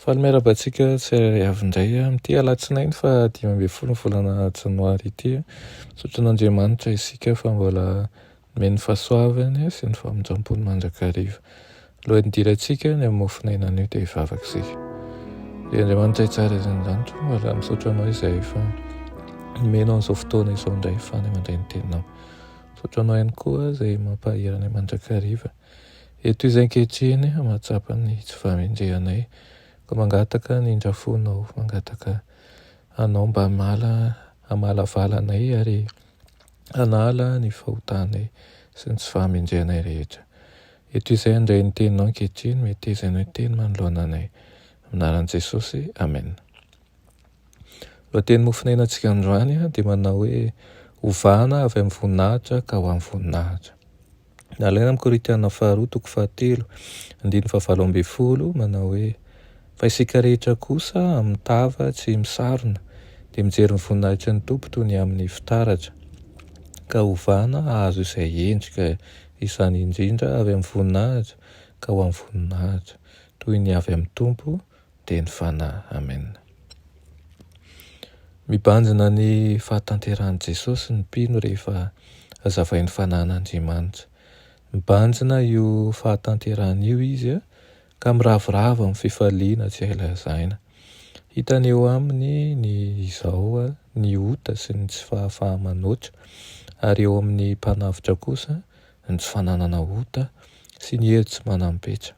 Faly miarahaba antsika tsirairay avy indray amin'ity alatsinainy fa dimy ambin'ny folo ny volana janoary ity. Misaotra an'Andriamanitra isika fa mbola nomeny fahasoavany sy ny famindram-pony mandrakariva. Alohan'ny hidirantsika ny amin'ny mofon'aina anio dia hivavaka isika. Ry Andriamanitra tsara izay an-danitra, mbola misaotra anao izay efa nomena an'izao fotoana izao indray fa ny mandray ny teninao. Misaotra anao ihany koa izay mampahery anay mandrakariva. Eto izy ankehitriny, mahatsapa ny tsy fahamendrehanay, koa mangataka ny indrafonao, mangataka Anao mba hamala, hamalavala anay ary hanala ny fahotanay sy ny tsy fahamendrehanay rehetra. Eto izahay handray ny Teninao ankehitriny, meteza Ianao hiteny manoloana anay. Amin'ny anaran'i Jesosy, Amen. Lohateny mofonainantsika androany dia manao hoe, Ovana avy amin'ny voninahitra ka ho amin'ny voninahitra. Nalaina amin'ny Korintiana faharoa toko fahatelo, andininy fahavalo ambin'ny folo, manao hoe, Fa isika rehetra kosa amin'ny tava tsy misarona, dia mijery ny voninahitry ny Tompo toy ny amin'ny fitaratra, ka hovana hahazo izay endrika, izany indrindra avy amin'ny voninahitra ka ho amin'ny voninahitra, toy ny avy amin'ny Tompo, Teny Fanahy. Amen. Mibanjina ny fahatanterahan'i Jesosy ny mpino rehefa azavain'ny Fanahin'Andriamanitra. Mibanjina io fahatanterahana io izy ka miravoravo amin'ny fifaliana tsy hay lazaina. Hitany eo aminy ny izao, ny ota sy ny tsy fahafaha-manoatra, ary eo amin'ny mpanavotra kosa ny tsy fananana ota sy ny hery tsy manam-petra.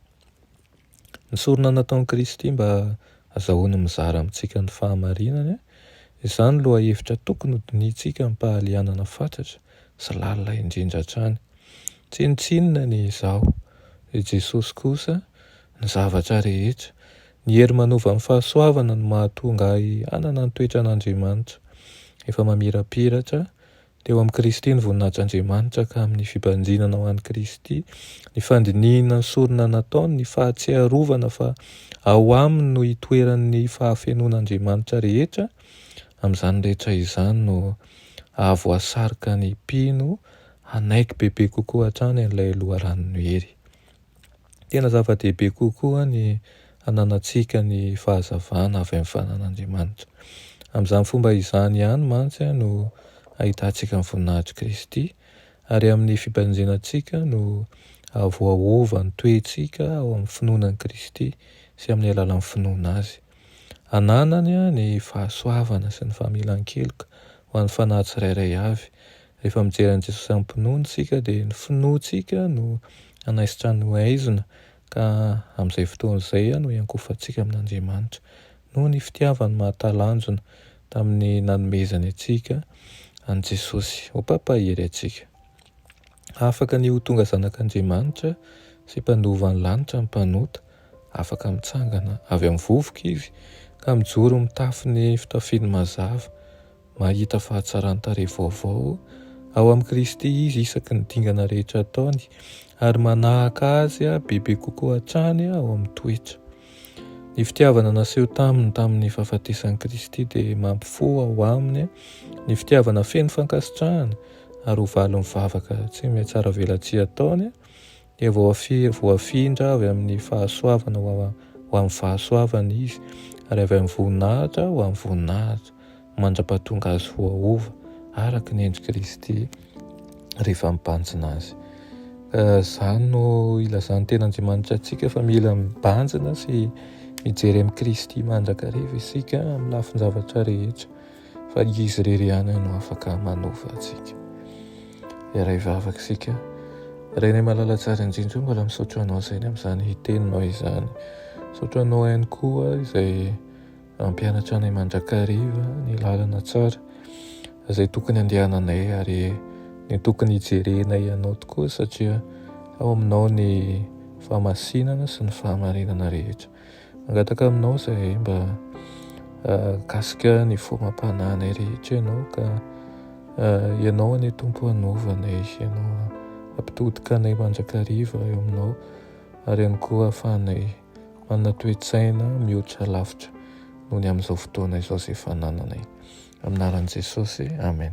Ny sorona nataon'i Kristy mba hazahoany mizara amintsika ny fahamarinany, izany lohahevitra tokony hodinihintsika amim-pahalianana fatratra sy lalina indrindra hatrany. Tsinontsinona ny Izaho, i Jesosy kosa, ny zavatra rehetra. Ny hery manova ny fahasoavana no mahatonga ahy hanana ny toetran'Andriamanitra, efa mamirapiratra Teo amin'i Kristy ny voninahitran'Andriamanitra ka amin'ny fibanjinana ho an'i Kristy, ny fandinihina ny sorona nataony, ny fahatsiarovana fa ao aminy no itoeran'ny fahafenoan'Andriamanitra rehetra, amin'izany rehetra izany no ahavoasarika ny mpino hanaiky bebe kokoa hatrany an'ilay loharanon'ny hery. Tena zava-dehibe kokoa ny hananantsika ny fahazavana avy amin'ny fananan'Andriamanitra. Amin'izany fomba izany ihany mantsy no ahitantsika ny voninahitr'i Kristy, ary amin'ny fibanjinantsika no voaova ny toetsika ao amin'ny finoana an'i Kristy sy amin'ny alalan'ny finoana Azy. Ananany ny fahasoavana sy ny familan-keloka ho an'ny fanahy tsirairay avy, Rehefa mijery an'i Jesosy amim-pinoana isika dia ny finoantsika no hanaisotra ny haizina ka amin'izay fotoana izay no hiankohofantsika amin'Andriamanitra. Noho ny fitiavany mahatalanjona tamin'ny nanomezany antsika an'i Jesosy ho mpampahery antsika. Afaka ny ho tonga zanak'Andriamanitra sy mpanova ny lanitra ny mpanota, afaka mitsangana avy amin'ny vovoka izy ka mijoro mitafy ny fitafiany mazava. mahita fahatsaran-tarehy vaovao ao amin'i Kristy izy isaky ny dingana rehetra ataony, ary manahaka Azy bebe kokoa hatrany ao amin'ny toetra. Ny fitiavana naseho taminy tamin'ny fahafatesan'i Kristy dia mampifoha ao aminy ny fitiavana feno fankasitrahana, ary ho valin'ny vavaka tsy mihatsaravelatsihy ataony dia voafindra avy amin'ny fahasoavana ho amin'ny fahasoavana izy, ary avy amin'ny voninahitra ho amin'ny voninahitra, mandra-pahatonga azy voaova araka ny endr'i Kristy rehefa mibanjina azy. Ka izany no ilazan'ny ten'Andriamanitra antsika fa mila mibanjina sy mijery amin'i Kristy mandrakariva isika amin'ny lafin-javatra rehetra. fa izy irery ihany no afaka manova antsika. Iray vavaka isika. Renay malala tsara indrindra, mbola misaotra anao sainy amin'izany hiteninao izany. Misaotra anao ihany koa izay mampianatra anay mandrakariva ny lalana tsara izay tokony andehananay ary ny tokony hijerenay ianao tokoa satria ao aminao ny famasinana sy ny fahamarinana rehetra. Mangataka aminao izahay mba mikasika ny foham-panahinay rehetra ianao ka ianao anie Tompo hanova anay sy ianao hampitodika anay mandrakariva eo aminao ary ihany koa hahafahanay manana toe-tsaina mihoatra lavitra noho ny amin'izao fotoana izao izay fanananay. Amin'ny anaran'i Jesosy, amen.